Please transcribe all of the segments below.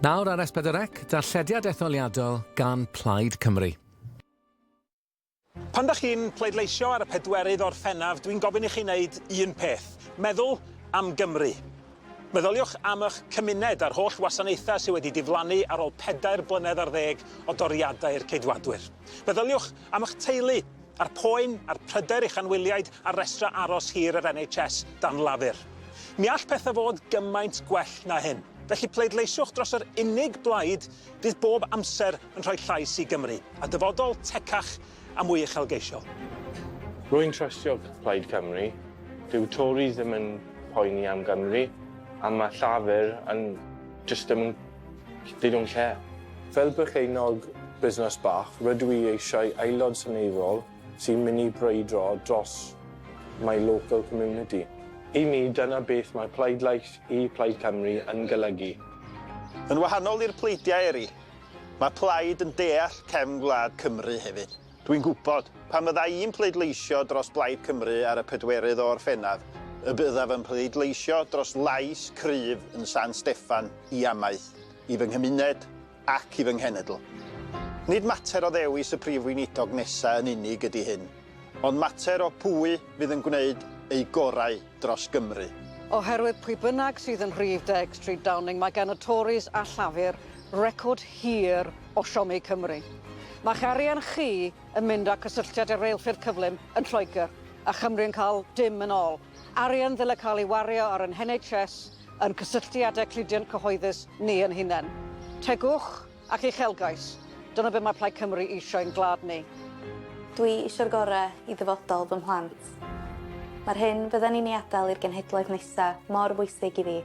Nawr ar S4C, darllediad etholiadol gan Plaid Cymru. Pan da chi'n pleidleisio ar y pedwerydd o'r Orffennaf, dwi'n gofyn i chi wneud un peth. Meddwl am Gymru. Meddyliwch am eich cymuned a'r holl wasanaethau sydd wedi diflannu ar ôl pedair blynedd ar ddeg o doriadau'r Ceidwadwyr. Meddyliwch am eich teulu A'r poen a'r pryder i'ch anwyliaid ar restrau aros hir yr NHS dan lafur. Mi all pethau fod gymaint gwell na hyn. Felly pleidleisiwch dros yr unig blaid fydd bob amser yn rhoi llais i Gymru, a dyfodol tecach a mwy uchelgeisiol. Rwy'n trystio Plaid Cymru. Dyw Tories ddim yn poeni am Gymru, a mae Llafur yn jyst ddim yn Digon lle. Fel perchennog busnes bach, rydw i eisiau aelod seneddol sy'n mynd i brwydro dros my local community. I mi, dyna beth mae pleidlais i Plaid Cymru yn golygu. Yn wahanol i'r pleidiau eri, mae Plaid yn deall cefn gwlad Cymru hefyd. Dwi'n gwybod, pan fydda i'n pleidleisio dros Blaid Cymru ar y pedwerydd o Orffennaf, y byddaf yn pleidleisio dros lais cryf yn San Steffan i amaeth, i fy nghymuned ac i fy nghenedl. Nid mater o ddewis y Prif Weinidog nesaf yn unig ydy hyn, ond mater o pwy fydd yn gwneud eu gorau. dros Gymru. Oherwydd pwy bynnag sydd yn rhif deg Stryd Downing, mae gan y Tories a Llafur record hir o siomi Cymru. Mae'ch arian chi yn mynd â cysylltiad y reilffyrdd cyflym yn Lloegr, a Chymru yn cael dim yn ol. Arian ddyle cael ei wario ar y NHS, yn cysylltiadau cludiant cyhoeddus ni yn hunain. Tegwch! Ac uchelgais. Dyna be mae Plaid Cymru eisiau i'n gwlad ni. Dwi isio'r gore i ddyfodol fy mhlant. Mae'r hyn fydden i'n ei adael i'r genhedloedd nesa mor bwysig i fi.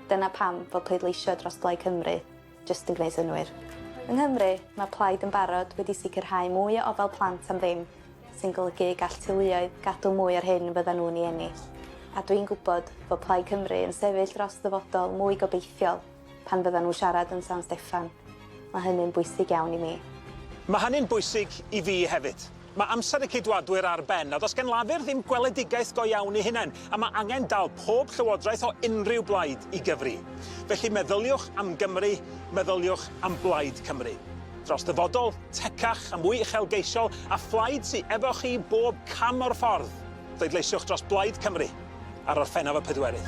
Dyna pam fo pleidleisio dros Blaid Cymru jyst yn gwneud synnwyr. Yng Nghymru, mae Plaid yn barod wedi sicrhau mwy o ofal plant am ddim, sy'n golygu y gall teuluoedd gadw mwy o'r hyn fyddan nhw'n ei ennill. A dwi'n gwybod fo Plaid Cymru yn sefyll dros ddyfodol mwy gobeithiol. pan fyddan nhw'n siarad yn San Steffan. Mae hynny'n bwysig iawn i mi. Mae hynny'n bwysig i fi hefyd. Mae amser y Ceidwadwyr ar ben, a does gan Lafur ddim gweledigaeth go iawn eu hunain, a mae angen dal pob llywodraeth o unrhyw blaid i gyfri. Felly meddyliwch am Gymru, meddyliwch am Blaid Cymru. Dros ddyfodol tecach a mwy uchelgeisiol a phlaid sy efo chi bob cam o'r ffordd. Pleidleisiwch dros Blaid Cymru. ar Orffennaf y Pedwerydd.